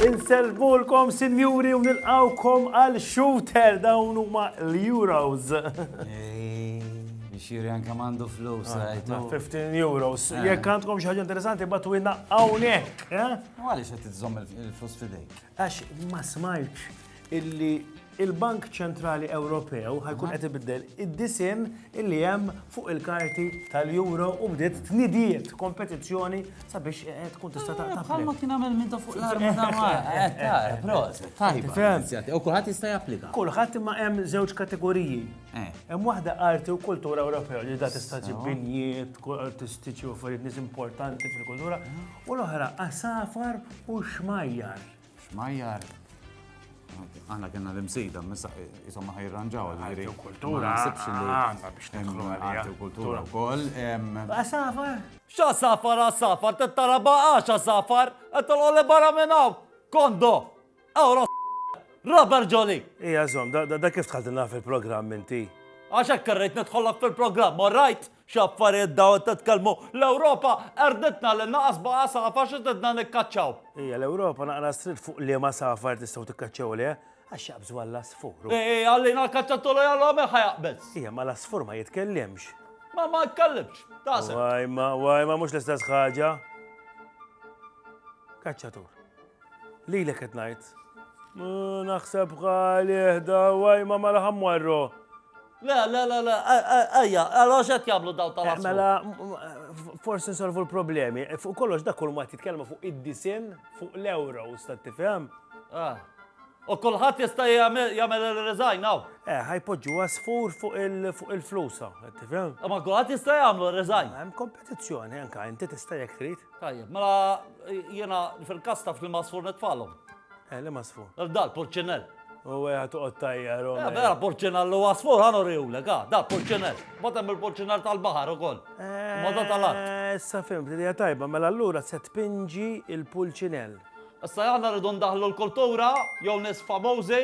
Insellmulkom sinjuri u nilqgħukom għal shooter dawn huma l-Euros. Xiri anka mandu flus, rajtu. 15 euros. Jekk għandkom xi ħaġa interessanti batu inna hawnhekk. Għaliex qed iżomm il-flus fidejk? Għax ma smajtx illi il-Bank Ċentrali Ewropew ħajkun qed ibiddel id-disinn illi hemm fuq il-karti tal-Euro u bdiet tnidiet kompetizzjoni sabiex eh, eh, tkun tista' taqta' Bħalma kien għamel minn fuq l-arma dawar. Eh, proset, tajba. U kulħadd jista' japplika. Kulħadd imma hemm żewġ kategoriji. Hemm waħda arti u kultura Ewropew li da tista' ġib binjiet, artistiċi u affarijiet nies importanti fil-kultura. U l-oħra għasafar u xmajjar. Xmajjar. Aħna kena l-imsida, missa jisomma ħajranġaw l-għiri. Kultura, għanna biex nidħlu għalija. Kultura u koll. Għasafar? Xa safar, għasafar, t-tara baqax għasafar, għattal għole barra minnaw, kondo. Ewro Robert Jolly! Ija zom, da kif tħaltilna fil-programm inti? Għax hekk irrid nidħollok fil-programm, all right? X'affarijiet daw qed titkellmu, l-Ewropa erditna lil naqas baqa' safar xi tridna nikkaċċaw. Ija l-Ewropa naqra strit fuq liema safar tistgħu tikkaċċaw leh, għax jaqbżu għall-asfur. Ej, għallina l-kaċċattulu jalla minn ħajaqbeż. Ija ma l-asfur ma jitkellimx. Ma ma jitkellimx, taqsem. Wajma, wajma mhux l-istess ħaġa. Kaċċatur. Lilek qed ngħid. Naħseb għalih da waj ma mala ħammwarru. Le, le, le, le, ejja, għalax qed jagħmlu daw tal eh, Mela, forsi nsolvu l-problemi. Eh, fuq kollox dak kull ma titkellmu fuq id-disin fuq l-euro, sta tifhem? Ah. U kulħadd jista' jagħmel il-resign hawn. Eh, ħajpoġġu għasfur fuq il-flusa, tifhem? Ma kulħadd jista' jagħmlu resign. Hemm kompetizzjoni anke inti tista' jekk trid. Tajjeb, mela jiena fil-kas taf li masfur nitfalhom. Eh, li masfur? Dal, purċinell. U għeja tuqot tajja, Roma. Eh, vera purċinell u għasfur għanu riwle, ga, da, purċinell. Matem il-purċinell tal-bahar u koll. Eh, Mada tal-art. Issa fim, li tajba, mela allura se tpinġi il-pulċinell. Issa jgħanna rridu ndaħlu l-kultura, jew nis famozi,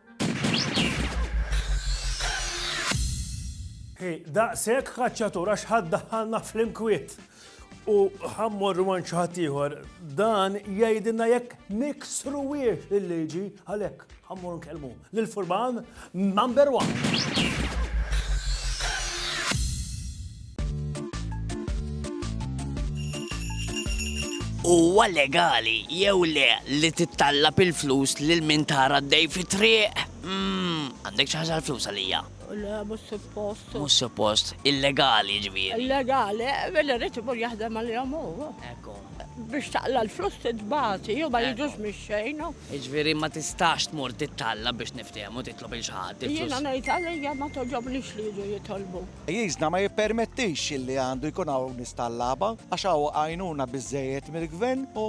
Hi, daqshekk kaċċatur għax ħadd daħħalna fl-imkwiet. U ħammor għan xaħat ieħor, dan jgħidilna jekk niksru wiex il-liġi għalhekk ħammor nkellmu l furban number one. Huwa legali jew le li tittallab il-flus lil min tara d-dej fit-triq? Mm, għandek xi ħaġa l-flus għalija. Le, mhux suppost. Mhux suppost, illegali ġifieri. Illegali, billi rrid imur jaħdem għalihom hu. Ekku. Biex taqla l-flus titbati, jew ma jiġux mix-xejn. Ġifieri ma tistax tmur tittalla biex niftehmu titlob il xaħat. Jiena ngħid għalija ma toġobnix li jiġu jitolbu. Pajjiżna ma jippermettix li għandu jkun hawn nies tal-laba għax hawn għajnuna biżżejjed mill-Gvern u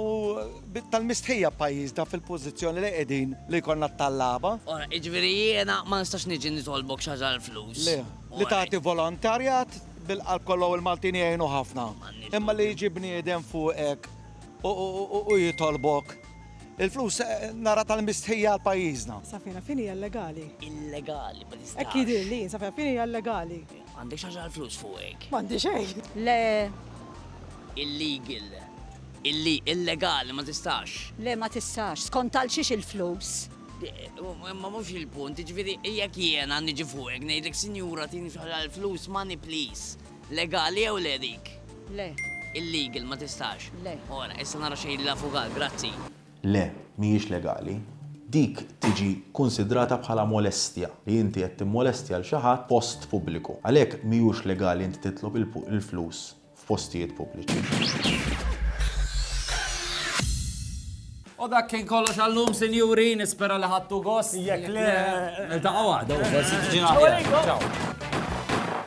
tal-mistħija pajjiżna fil-pożizzjoni li qegħdin li jkollna t-tallaba. Ora, jiġifieri jiena ma nistax niġi nitolbok xi ħaġa għall-flus? Le, li tagħti volontarjat bil-qalb kollu u l-Maltin jgħinu ħafna. Imma li jiġi bniedem fuqek u jitolbok. il-flus eh, nara tal-mistħija għal pajjiżna. Safina fini hija legali. Illegali, ma nistax. Hekk jidir li, safina fini hija legali. Għandek xaġa għal flus fuq hekk. M'għandi xejn. Le, Illegal. Illi illegali ma tistax. le ma tistax, skont għal xiex il-flus. Ma mhux il-punt, ġifieri jekk jiena niġi fuq hekk ngħidlek sinjura tini xaġa għal flus money please. Legali jew le dik? Le. Illegal, ma tistax? Le. Ora, issa nara x'jgħidli l-avukat. Grazzi. Le, mhijiex legali. Dik tiġi kkunsidrata bħala molestja, li inti qed timmolestja lil xi ħadd f'post pubbliku. Għalhekk mhijiex legali inti titlob il-flus f'postijiet pubbliċi. U dak kien kollox għal-lum, sinjuri, nispera li ħadtu gost. Jekk le. Niltaqgħu għada, forsi tiġi aħjar. Ċaw.